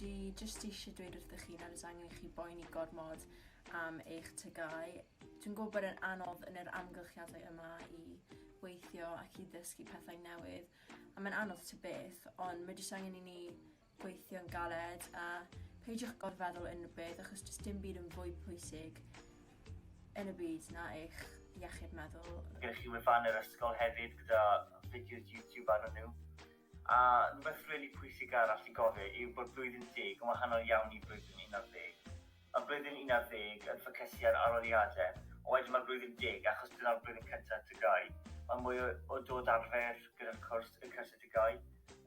Dwi jyst eisiau dweud wrthych chi nad oes angen i chi boeni gormod am eich tygau. Dwi'n gwybod bod e'n anodd yn yr amgylchiadau yma i weithio ac i ddysgu pethau newydd, a mae'n anodd to beth, ond mae jyst angen i ni gweithio'n galed a peidiwch gorfeddwl unrhyw beth achos does dim byd yn fwy pwysig yn y byd na eich iechyd meddwl. Gewch chi wefan yr ysgol hefyd gyda fideos YouTube arnyn nhw. A rhywbeth rili pwysig arall i gofio yw bod blwyddyn deg yn wahanol iawn i blwyddyn unarddeg. Mae blwyddyn unarddeg yn ffocysu ar arholiadau, ond wedyn mae blwyddyn deg, achos dyna'r blwyddyn cyntaf TGAU. Mae mwy o o dod arfer gyda'r cwrs, y cyrsiau TGAU,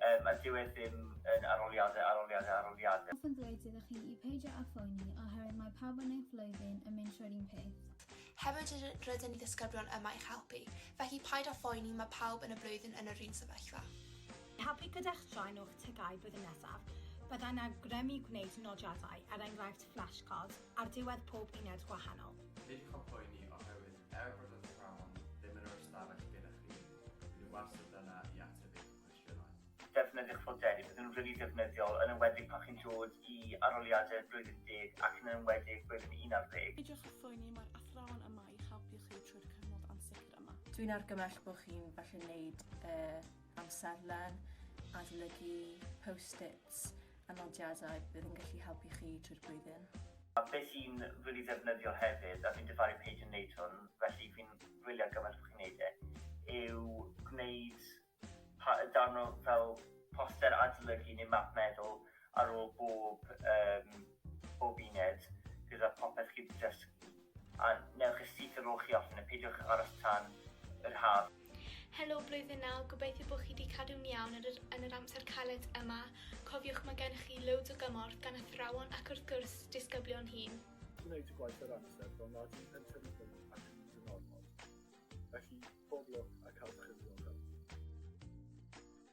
yym, a dyw e ddim yn arholiadau, arholiadau, arholiadau. Hoffwn ddweud iddo chi i peidio â phoeni, oherwydd mae pawb yn eu flwyddyn yn mynd trwy'r un peth. Hefyd rydyn rydyn ni ddisgyblion yma i'ch helpu, felly paid â phoeni, mae pawb yn y blwyddyn yn yr un sefyllfa. Helpu gyda'ch straen o'ch tygau flwyddyn nesaf, byddai'n awgrymu gwneud nodiadau, er enghraifft flashcards, ar ddiwedd pob uned gwahanol. Peidiwch â phoeni oherwydd er bod yr athrawon ddim yn yr ystafell gyda chi, rydyn nhw wastad yna i ateb eich cwestiynau. Defnyddiwch fodelu, bydden nhw'n rili defnyddiol, yn enwedig pan chi'n dod i arholiadau blwyddyn deg ac yn enwedig blwyddyn unarddeg. Peidiwch â phoeni, mae'r athrawon yma i'ch helpu chi trwy'r cyfnod ansicr yma. Dwi'n argymell bod chi'n falle wneud y amserlen, adolygu post-its a nodiadau bydd yn gallu helpu chi trwy'r blwyddyn. A beth sy'n rili ddefnyddiol hefyd, a fi'n difaru Paige yn wneud hwn, felly fi'n gwylio ar gymaint bod chi'n wneud e, yw gwneud pa- darn o fel poster adolygu neu map meddwl ar ôl bob yym bob uned gyda popeth chi 'di dysgu a newch e syth ar ôl chi orffen e, peidiwch aros tan yr haf. Helo Blwyddyn Naw, gobeithio bod chi 'di cadw'n iawn yn yr, yn yr amser caled yma. Cofiwch mae gennych chi loads o gymorth gan athrawon ac wrth gwrs disgyblion hŷn. Gwneud y gwaith ar amser fel nad yw'n pensiwn yn fyny ac yn mynd yn ormod. Felly, pob lwc a cael chi ddiogel.